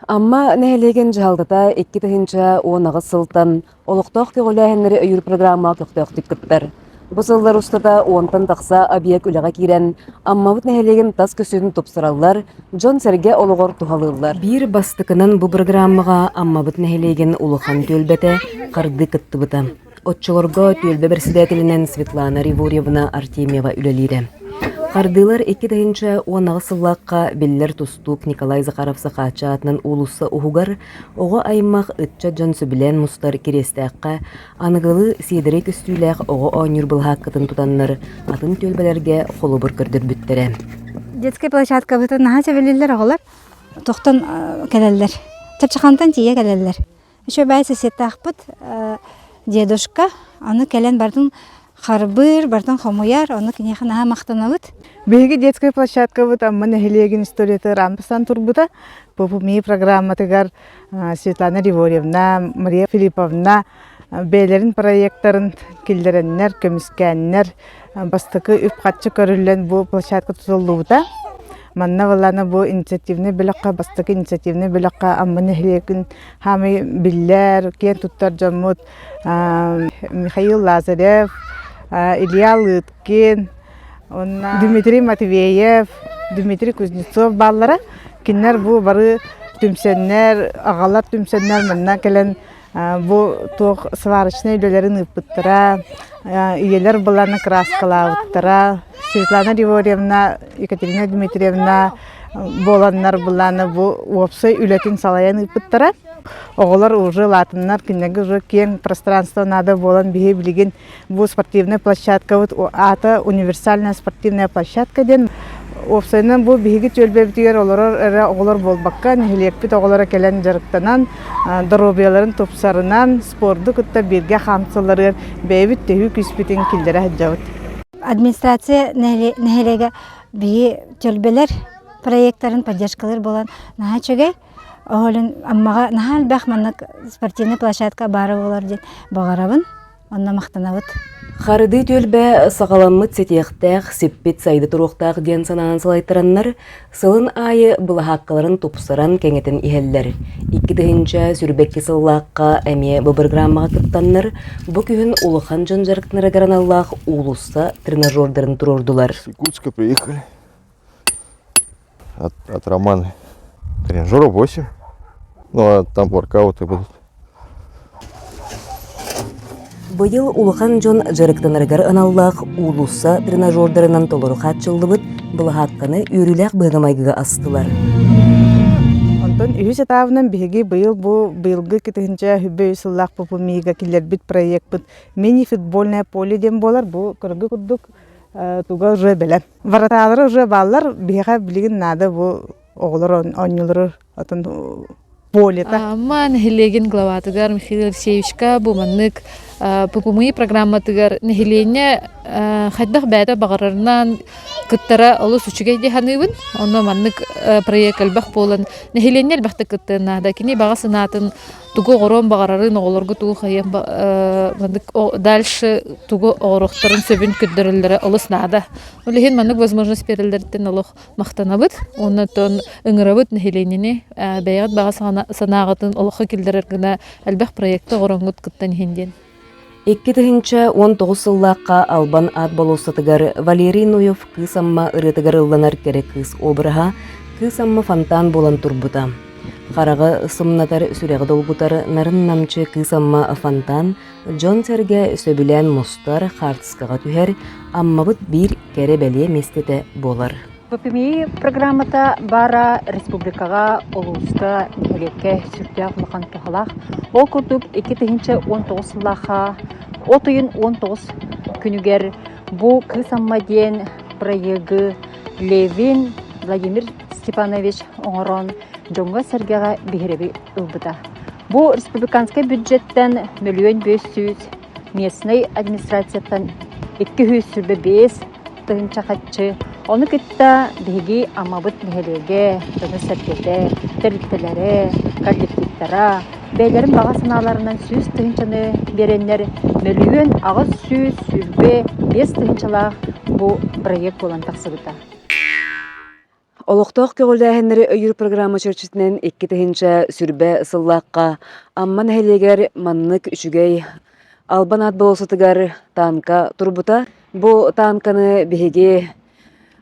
Амма нэһилиэгин дьаһалтата икки тыһыынча уон аҕыс сылтан олохтоох көҕүлээһиннэри өйүүр программа көхтөөхтүк кыттар. Бу сыллар устата уонтан тахса объект үлэҕэ киирэн, Аммабыт нэһилиэгин тас көсүһүн тупсараллар, дьон-сэргэ олоҕор туһалыыллар. Биир бастакынан бу программаҕа Аммабыт нэһилиэгин улахан түөлбэтэ хардыы кыттыбыта. Оччолорго түөлбэ председателинэн Светлана Ривурьевна Артемьева үлэлиирэ. Хардыылар икки тыһыынча уон аҕыс сыллаахха биллэр тустуук Николай Захаров Сахаача аатынан уулусса уһугар оҕо аймах ыччат дьон сөбүлээн мустар Кириэстээххэ аныгылыы сиэдэрэй көстүүлээх оҕо оонньуур былаһааккатын тутаннар атын түөлбэлэргэ холобур көрдөрбүттэрэ. Детскай площадкабытын наһаа сөбүлүүллэр оҕолор. Тохтон кэлэллэр. Чачахантан тиийэ кэлэллэр. Үчүгэй сиситахпыт дедушка аны кэлэн бартын харбыыр, бартын хомуйар, ону киниэхэ наһаа махтанабыт. Биһиги детскай площадкабыт Амма нэһилиэгин историятыгар аан турбута. Попумии программатыгар Светлана Риворьевна, Мария Филипповна бэйэлэрин проектарын киллэрэннэр, көмүскээннэр бастакы үп-харчы көрүллэн бу площадка тутуллубута. Манна ылана бу инициативный бөлөххө, бастакы инициативный бөлөххө Амма нэһилиэгин хаамый биллэр, киэн туттар дьоммут Михаил Лазарев, Илья Лыткин, Дмитрий Матвеев, Дмитрий Кузнецов бааллара. Кинилэр бу бары түмсэннэр, агалар түмсэннэр манна кэлэн Бу туох сварочнай үлэлэрин ыыппыттара, ийэлэр быланы краскалаабыттара. Светлана Григорьевна, Екатерина Дмитриевна буоланнар былааны бу уопсай үлэтин салайан ыыппыттара. Оҕолор уже улаатыннар, кинилэргэ уже киэҥ пространство наада буолан биһи билигин Бу спортивная площадка, вот аата универсальная спортивная площадка диэн уопсайынан бу биһиги түөлбэбитигэр олорор эрэ оҕолор буолбакка, нэһилиэкпит оҕолоро кэлэн дьарыктанан, доруобуйаларын тупсарынан, спорду кытта бииргэ хаамсалларыгар бэйэбит төһүү күүспүтүн киллэрэ сылдьабыт. Администрация нэһилиэгэ биһи түөлбэлэр проекттарын поддержкалар болан наһаа чөгэй оһолун аммаҕа наһаа элбэх маннык спортивная площадка баара болар диэн баҕарабын Онно махтанабыт. Харыдыы түөлбэ саҕаламмыт ситиэхтээх, сиппит сайды туруохтаах диэн санаан салайтараннар, сылын аайы былаһааккаларын тупсаран кэҥэтэн иһэллэр. Икки тыһыынча сүүрбэкки сыллаахха эмиэ бу бырагыраамаҕа кыттаннар, бу күһүн улахан дьон дьарыктанара граналлаах уулусса тренажердарын туруордулар. Якутска приехали. от романа тренажера восемь но там воркауты будут Быйыл улахан дьон дьарыктанарыгар аналлаах уулусса тренажердарынан толору хааччыллыбыт былаһаакканы үөрүүлээх быһыгымайгыга астылар. Онтон үһүс этабынан биһиги быйыл бу быйылгы кытынча хүббөй сыллаах пупу миига киллэрбит проекпыт мини футбольное поле диэн буолар бу көрөгө курдук туга уже билем враталары уже бааллар биһиэхэ билигин наада бу оҕолор оонньуулары атын полета Ама нэһилиэгин главатыгар Михаил Алексеевичка бу маннык ППМИ программатыгар нэһилиэнньэ хайдах бэйэтэ баҕарарынан кыттара олус үчүгэй диһаныыбын онно маннык проект элбэх буолан нэһилиэнньэ элбэхтик кыттыан наада кини баҕа санаатын тугу оҕоруон баҕарарын оҕолорго тугу хайыан дальше тугу оҕоруохтарын сөбүн көрдөрөллөрө олус наада ол иһин маннык возможность берэллэриттэн олох махтанабыт уонна тон ыҥырабыт нэһилиэнньэни бэйэҕит баҕа санааҕытын олоххо киллэрэр гына элбэх проекты оҕороҥҥут кыттан иһин диэн Икки тыһыынча уон тоҕус сыллаахха Албан аат болуоссатыгар Валерий Нуев Кыыс Амма ырыатыгар ылланар кэрэ кыыс обраһа Кыыс Амма фонтан буолан турбута. Хараҕы сымнатар, сүрэҕи долгутар нарын намчы Кыыс Амма фонтан дьон-сэргэ сөбүлээн мустар, хаартыскаҕа түһэр, Аммабыт биир кэрэ бэлиэ миэстэтэ буолар. ППМИ программата баара республикаҕа, улууска, нэһилиэккэ сүрдээх улахан туһалаах. Ол курдук икки тыһыынча уон тоҕус сыллаахха от ыйын уон тоҕус күнүгэр бу Кыыс Амма диэн проегы Левин Владимир Степанович оҥорон дьоҥҥо-сэргэҕэ биһирэби ылбыта. Бу республиканскай бюджеттан мөлүөн биэс сүүс, местнай администрацияттан икки сүүс сүүрбэ биэс тыһыынча хаччы, ону кытта биһиги Амабыт нэһилиэгэ дьоно-сэргэтэ, тэрилтэлэрэ, коллективтара бэйэлэрин баҕа санааларынан сүүс тыһыынчаны биэрэннэр мөлүйүөн аҕыс сүүс сүүрбэ биэс тыһыынчалаах бу проект буолан тахсыбыта. Олохтоох көҕүлээһиннэри өйүүр программа чэрчитинэн икки тыһыынча сүрбэ сыллаахха Амма нэһилиэгэр маннык үчүгэй Албан аат болосутугар танка турбута. Бу танканы биһиги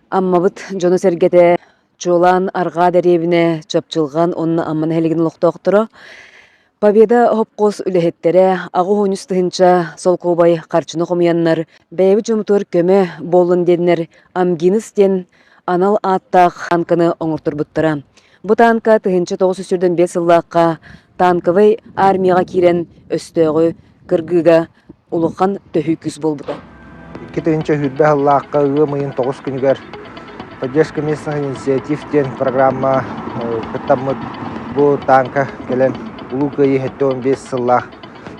Аммабыт дьоно-сэргэтэ чуолаан Арҕаа дэриэбинэ, Чапчылҕан уонна Амма нэһилигин олохтоохторо Победа обкос үлэһиттэрэ аҕыс оҕонньус тыһыынча солкуобай харчыны хомуйаннар бэйэбит дьоммутугар көмө буоллун диэннэр Амгинус диэн анал ааттаах танканы оҥорторбуттара. Бу танка тыһыынча тоҕус сүүс сүүрдэн биэс сыллаахха танковай армияҕа киирэн өстөөҕү кыргыыга улахан төһүү күүс буолбута. Икки тыһыынча сүүрбэ сыллаахха ыам ыйын тоҕус күнүгэр Поддержка местных инициатив диэн программа кыттаммыт бу тааҥка кэлэн Улуу Кыайыы сэттэ уон биэс сыллаах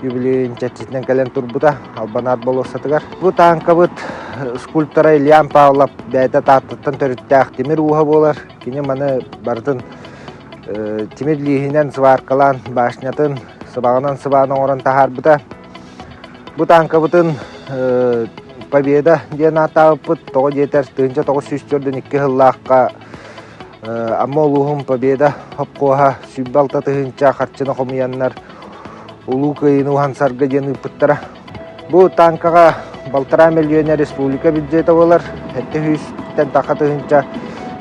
юбилейын чэрчитинэн кэлэн турбута Албанаар болуоссатыгар. Бу тааҥкабыт скульптора Ильян Павлов бэйэтэ Тааттаттан төрүттээх тимир ууһа буолар. Кини маны барытын тимир лииһинэн сваркалаан башнятын сыбаҕынан сыбаан оҥорон таһаарбыта. Бу тааҥкабытын Победа диэн ааттаабыппыт. Тоҕо диэтэр, тыһыынча тоҕус сүүс төрдүн икки сыллаахха Амма улууһун Победа обкоһа сүүрбэ алта тыһыынча харчыны хомуйаннар Улуу Кыайыыны уһансарга диэн ыыппыттара. Бу тааҥкаҕа балтараа мөлүйүөнэ республика бюджета буолар, сэттэ сүүстэн таха тыһыынча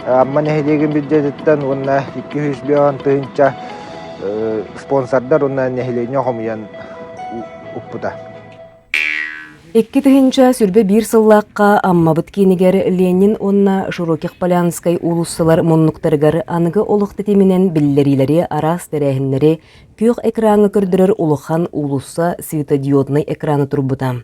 Амма нэһилиэгин бюджетиттэн уонна икки сүүс бөҕөн тыһыынча спонсордар уонна нэһилиэнньэ хомуйан укпута Икки тыһыынча сүүрбэ биир сыллаахха Аммабыт киинигэр Ленин уонна Широких-Полянскай уулуссалар муннуктарыгар аныгы олох тэтиминэн биллэриилэри араас тэрээһиннэри күөх экраҥҥа көрдөрөр улахан уулусса светодиоднай экрана турбута.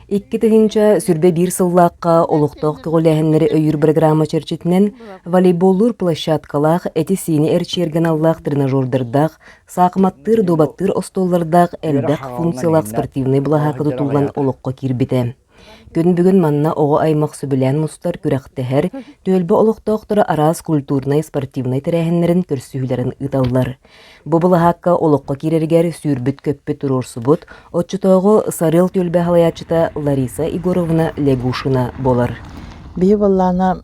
Икки тыһыынча сүрбэ биир сыллаахха олохтоох көҕүлээһиннэри өйүүр бырагыраама чэрчитинэн волейболлуур площадкалаах, эти-сиини эрчийэрганаллаах тренажердардаах, саахыматтыыр, дуобаттыыр остуоллардаах элбэх функциялаах спортивнай былаһаакка тутуллан олоххо киирбитэ. Күн бүгүн манна оҕо аймах сөбүлээн мустар, күрэхтэһэр, түөлбэ олохтоохторо араас культурнай-спортивнай тэрээһиннэрин көрсүһүүлэрин ыыталлар. Бу былаһаакка олоххо киирэригэр сүүрбүт-көппүт туруорсубут, оччотооҕу Сарыал түөлбэ салайааччыта Лариса Егоровна Лягушина буолар. Бии боллаана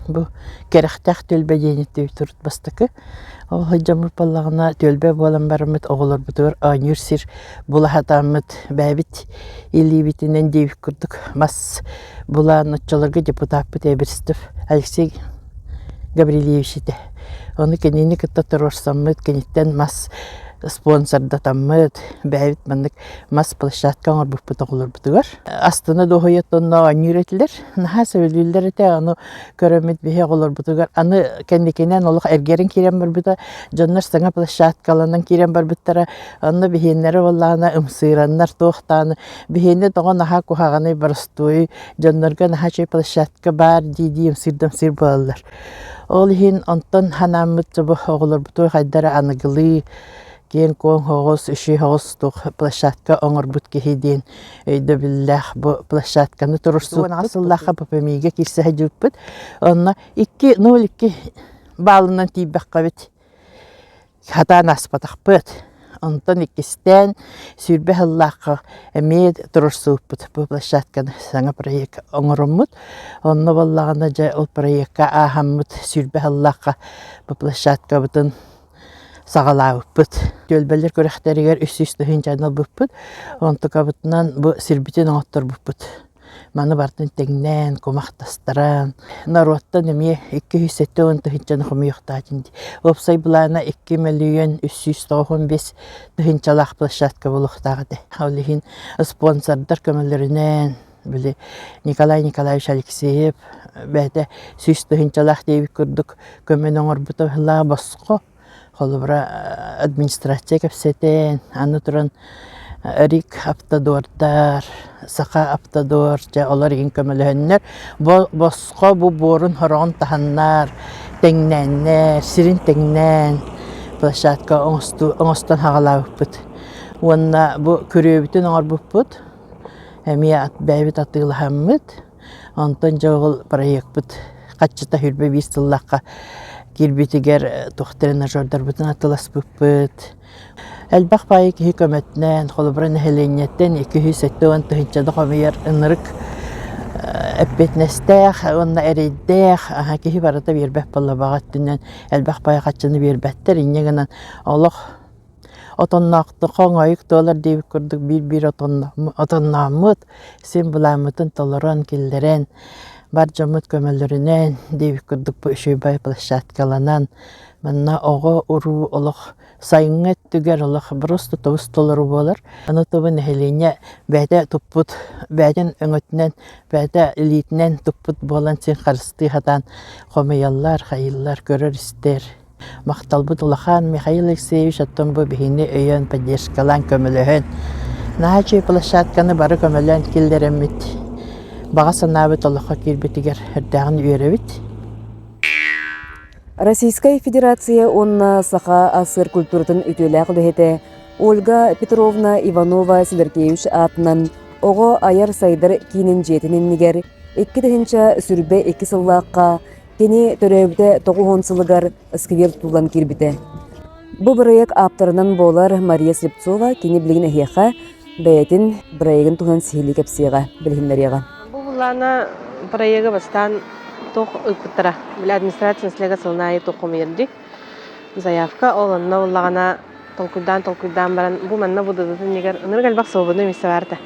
бу кэрэхтээх түөлбэ диэниттэ турут бастакы ол хojjоммут боллаҕына түөлбэ буолан барыммыт оҕолорбутугар оонньуур сир булаһатааммыт бэйэбит илиибитинэн диэбит курдук мас Булаан оччолорго депутаппыт Эбирстов Алексей Гаврильевич этэ. Ону кинини кытта туруорсаммыт, киниттэн мас спонсордатаммыт, бэйэбит маннык мас площадка оҥорбуппут оҕолорбутугар. Астына дуоһуйатонно оонньуур этилэр. Наһаа сөбүлүүллэр этэ, аны көрөммүт биһи оҕолорбутугар. Аны кэнникинэн олох эргэрин киирэн барбыта, дьоннор саҥа площадкаланан киирэн барбыттара. Онно биһиэннэрэ буоллаана, ымсыыраннар туохтааны Биһиэнэ тоҕо наһаа куһаҕаный боростуой дьоннорго наһаа чэй площадка баар дии-дии ымсыырдан сир буолаллар. Ол иһин онтон ханааммыт собо оҕолорбут хайдара аныгылыы киэҥ-куоҥ соҕус, иши соҕус туох площадка оҥорбут киһи диэн өйдөбүллээх бу площадканы турурсуубут сыллаахха ППМИ-гэ киирсэ сылдьыбыппыт. Онно икки, ну, икки баалынан тиийбэххэ эбит Сатаан аспатахпыт, онтон иккистээн сүүрбэ сыллаахха эмиэ туруорсуубут бу площадканы саҥа проект оҥороммут. Онно буоллаҕына дьэ ол проекка ааһаммыт сүүрбэ сыллаахха бу площадкабытын саҕалаабыппыт. Түөлбэлэр күрэхтэригэр үс сүүс тыһыынча ылбыппыт, онтукабытынан бу сирбитин оҥотторбуппут. Маны бартын тэҥнээн, кумахтастаран, норуоттан эмиэ икки сүүс сэттэ уон тыһыынчаны хомуйуохтаатын дии. Уопсай былаана икки мөлүйүөн үс сүүс тоҕус бес тыһыынчалаах площадка буолуохтаах этэ. Ол иһин спонсордар көмөлөрүнэн били Николай Николаевич Алексеев бэйэтэ сүүс тыһыынчалаах диэбит курдук көмөнү оҥорбута босхо Холобура, администрация кэпсэтэн, аны туран Рик автодордар, Саха автодор, дьэ олор игин көмөлөһөннөр, босхо бу буорун хороҕун таһаннар, тэҥнээннэр, сирин тэҥнээн площадка оҥостон хаҕалаабыппыт. Уонна бу күрүөбүтүн оҥорбуппут, эмиэ бэйэбит атыылаһаммыт. Онтон дьоҕул проекпыт хаччыта сүүрбэ биис тыллахха киирбитигэр туох тренажердарбытын атыласпыппыт. Элбэх баайы киһи көмөтүнэн, холобура нэһилиэнньэттэн икки сүүс сэттэ уон тыһыынча да хомуйар ынырык эппиэтинэстээх уонна эрэйдээх киһи барыта биэрбэт буолла баҕа өттүнэн элбэх баайы хаччыны биэрбэттэр инньэ гынан олох отонноохтук хоҥойук туолар диэбит курдук биир-биир отоннооммут син былааммытын толорон киллэрэн бар дьоммут көмөлөрүнэн диэбит курдук учебай площадкаланан манна оҕо-уруу олох сайыҥҥы өттүгэр олох просто тобус толору буолар аны тобу нэһилиэнньэ бэйэтэ туппут бэйэтин өҥөтүнэн бэйэтэ илиитинэн туппут буолан син харыстыы сатаан хомуйаллар хайыыллар көрөр-истэр Махталбыт улахан Михаил Алексеевич оттон бу биһини өйөөн, поддержкалаан көмөлөһөн, наһаа үчүгэй площадканы бары көмөлөөн киллэрэммит баҕа санаабыт олоххо киирбитигэр эрдээҕин үөрэбит. Российскай Федерация уонна Саха СССР культуратын үтүөлээх үлэһитэ Ольга Петровна Иванова-Силэркевич аатынан Оҕо айар сайдар киинин дьиэтин иннигэр икки тыһыынча сүрбэ икки сыллаахха Кини төрөөбүтэ 900 сылыгар сквер туулан киирбитэ. Бу бырайыак ааптарынан буолар Мария Слепцова кини билигин эһиэхэ бэйэтин бырайыгын туһунан сиһилии кэпсиэҕэ, билиһиннэриэҕэ. Бу былаана бырайыагы бастаан туох ыыппыттара? Били администрация население сылын аайы туох хомуйар дии? заявка ол онно буллаҕына толкуйдаан толкуйдаан баран бу манна бу дадатын иннигэр ынырык элбэх свободный места баарта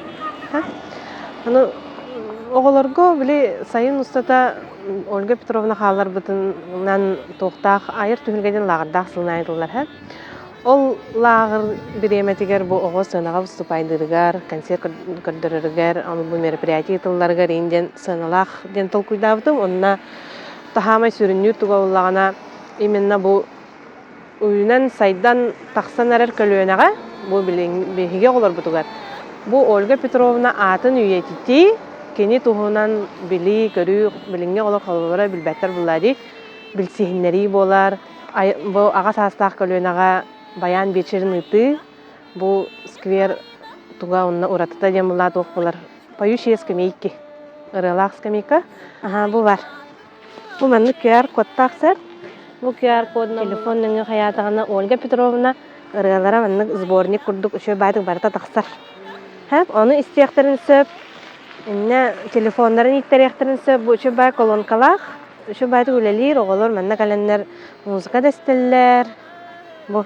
аны оҕолорго били сайын устата ольга петровна хааларбытынан туохтаах айар түһүлгэтин лааҕырдаах сылнаайын тыллар ол лааҕыр бириэмэтигэр бу оҕо сыанаҕа выступайдырыгар концерт көрдөрөрүгэр аны бу мероприятие тылларыгар ин диэн сыаналаах диэн толкуйдаабытым онно таһаамай сүрүннүүр туга буллаҕына именно бу үйүнэн сайдан тахсан эрэр көлүөнэҕэ бу биһиги оҕолорбутугар бу Ольга Петровна аатын үйэтитии кини туһунан билии көрүү билиҥҥи олох холобура билбэттэр буоллаа дии билсиһиннэрии буолар бу аҕа саастаах көлүөнэҕэ баян биэчэрин ыытыы бу сквер туга онно уратыта диэн буллаа туох буолар поющие скамейки ырыалаах скамейка аха бу бар Бу маннык QR-кодтаах сыр. Бу QR-кодунан телефон нөҥүө хайаатаҕына Ольга Петровна ырыалара маннык сборник курдук үчүгэй баайдык барыта тахсар. Һэп, ону истиэхтэрин сөп. Иннэ телефоннарын ииттэриэхтэрин сөп. Бу үчүгэй баай колонкалаах. Үчүгэй баайдык үлэлиир оҕолор манна кэлэннэр музыка дэстэллэр. Бу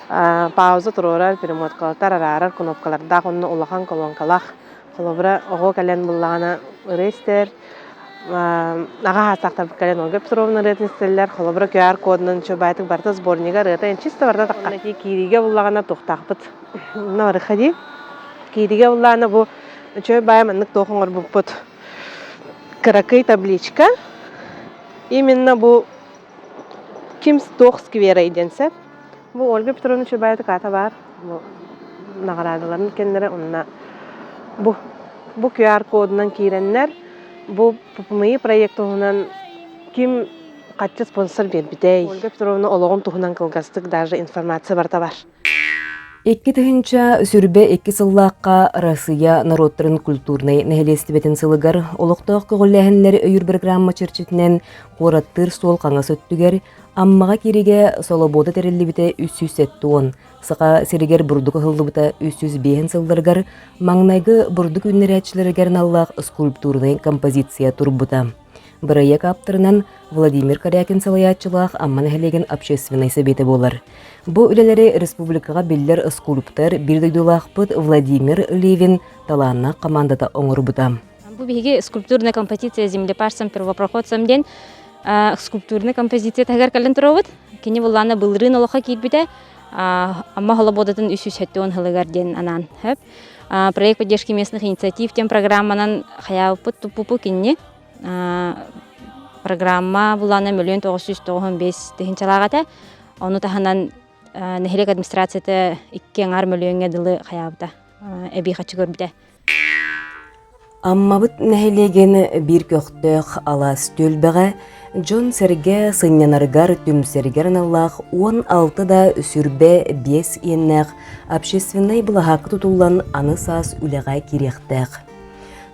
пауза туруорар перемоткалар араарар кнопкалардаах онно улахан колонкалаах холобура оҕо кэлэн буллаҕына ырыыстэр аҕа саахтарбыт кэлэн Ольга Петровна ырыатын истэллэр холобура QR кодунан чөбаайтык барыта сборнига ырыата эн чисто барда тахха киириигэ буллаҕына туохтаахпыт онно бары хадии киириигэ буллаҕына бу чөй баайа маннык туох оҥорбуппут кыракый табличка именно бу Ким туох скверой диэн сөп. Бу Ольга Петровна Чурбаева-Ката баар наҕараадаларын кэннэрэ онно бу бу QR-кодунан киирэннэр бу МИИ проект туһунан ким хаччы спонсор биэрбитэй? Ольга Петровна олоҕун туһунан кылгастык даже информация барыта бар. Икки тыһыынча сүрбэ икки сыллаахха Россия норуоттарын культурнай нэһилиэстибэтин сылыгар олохтоох көҕүлээһиннэр өйүүр бырагыраамма чэрчитинэн куораттыыр суол хаҥас өттүгэр Аммаҕа кииригэ солобуода тэриллибитэ үс сүүс сэттэ уон, Саха сиригэр бурдук ыһыллыбыта үс сүүс биэһин сылларыгар маҥнайгы бурдук үүннэрээччилэригэр аналлаах скульптурнай композиция турбута. Бырайыак ааптарынан Владимир Корякин салайааччылаах Амма нэһилиэгин общественнай сэбиэтэ буолар. Бу үлэлэри республикаҕа биллэр скульптор, биир дойдулаахпыт Владимир Левин талааннаах командата оҥорбута. Бу биһиги скульптурная композиция землепарцам первопроходцам диэн скульптурная композиция таһыгар кэлэн туруобут. Кини буллаана былырын олохха киирбитэ Амма холободатын үс үс хәттүон хылыгар диэн анаан хөп. Проект поддержки местных инициатив тем программанан хаyaаппыт туппупу кинни программа булааннан мөлүөн тоҕус сүүс тоҕус он биэс тыһыынчалаах этэ ону таһынан нэһилиэк администрацията икки аҥаар мөлүөҥҥэ дылы хайаабыта эбии хаччы көрбүтэ Аммабыт нэһилиэгин биир көхтөөх алаас түөлбэҕэ дьон-сэргэ сынньанарыгар түмсэригэр аналлаах уон алты да сүрбэ биэс иэннээх общественнай былаһаакка тутуллан аны саас үлэҕэ кириэхтээх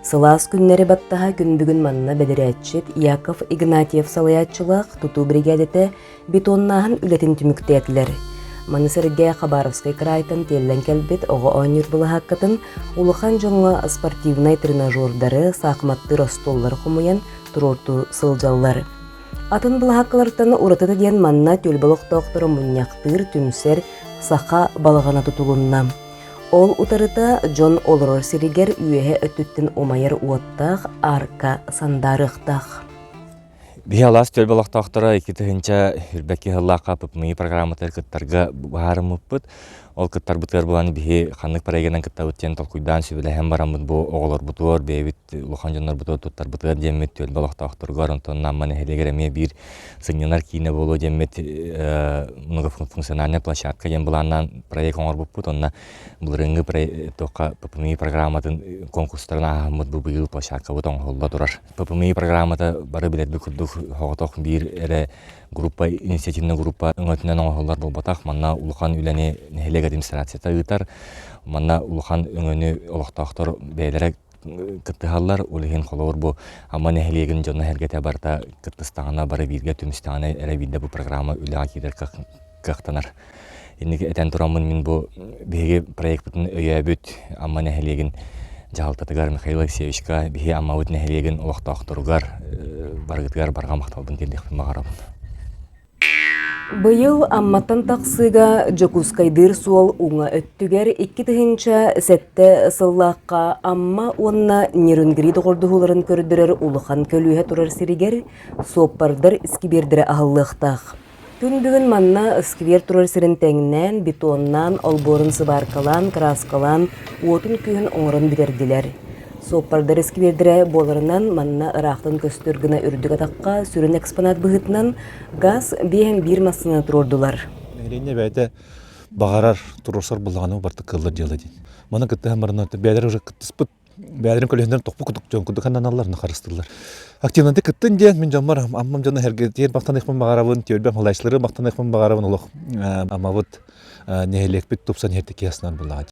Сылаас күннэри баттаһа күн манна бэдэрээччит Яков Игнатьев салайааччылаах тутуу биригээдэтэ бетоннааһын үлэтин түмүктээтилэр. Маны сэргэ Хабаровскай краайтан тиэллэн кэлбит оҕо оонньуур былаһааккатын улахан дьоҥҥо спортивнай тренажердары, саахыматтыыр остуоллары хомуйан туруортуу сылдьаллар. Атын былаһааккалартан уратыта диэн манна төл олохтоохторо мунньахтыыр, түмсэр саха балаҕана тутулунна. Ол утарыта дьон олорор сиригэр үөһэ өттүттэн умайар уоттаах арка сандаарыахтаах. Биһалаас төл балахтаахтара икки тыһынча үрбэкки хыллаахха пыпныы программатар кыттарга баарыммыппыт. Ол кыттарбытыгар буланы биһи ханнык парегынан кыттабыт диэн толкуйдаан сүбэлэһэн бараммыт бу оҕолорбутугар бэйэбит улахан дьоннорбутугар туттарбытыгар диэммит төл балахтаахтаргар онтон Намма нэһилиэгэр эмиэ биир сынньанар киинэ буолуо диэммит много функциональная площадка диэн былааннаан проект оҥорбуппут онно былырыыҥҥы туохха ППМИ программатын конкурстарын ааһаммыт бу быйыл площадкабыт оҥоһулла турар ППМИ программата бары билэрбит курдук соҕотох биир эрэ группа инициативная группа өҥөтүнэн оҥоһуллар буолбатах манна улахан үлэни нэһилиэк администрацията ыытар манна улахан өҥөнү олохтоохтор бэйэлэрэ Кыттыһаллар, ол иһин холобур бу Амма нэһилиэгин дьоно-сэргэтэ барыта кыттыстаҕына бары бииргэ түмүстэҕинэ эрэ биирдэ бу программа үлэҕэ киирэр кыахтанар. Инники этэн тураммын мин бу биһиги проекпытын өйөөбүт Амма нэһилиэгин дьаһалтатыгар Михаил Алексеевичка биһи Аммабыт нэһилиэгин олохтоохторугар барыгытыгар барҕа махталбын тиэрдиэхпин баҕарабын Быйыл Амматтан тахсыыга Дьокуускайдыыр суол уҥа өттүгэр икки тыһыынча сэттэ сыллаахха Амма уонна Нерюнгри доҕордоһууларын көрдөрөр улахан көлүөһэ турар сиригэр суоппардар искибиэрдэрэ аһыллыахтаах. Күн бүгүн манна искибиэр турар сирин тэҥнээн, бетоннаан, олбуорун сыбааркалаан, кырааскалаан, уотун-күөһүн оҥорон бүтэрдилэр. Суоппардар искибиэрдэрэ буоларынан, манна ыраахтан көстөр гына үрдүк атахха сүрүн экспонат быһыытынан газ биэһин биир массыынаны туруордулар. Нэһилиэнньэ бэйэтэ баҕарар туруорсар былаҕаны убартык кыыллар дьыала диэн. Маны кыттыһан баран бэйэлэрэ уже кыттыспыт, бэйэлэрин көлүөнэлэрин тохпу кутукчун кудук ханнаналлар хаарыстыллар. Активнанты кыттын диэн мин дьоммор аммам дьону эргитиэр махтаныахпын баҕарабын, түөлбэм халайсылары махтаныахпын баҕарабын олох амабыт нэһилиэкпит тупсан иһэртики аснан булаҕа.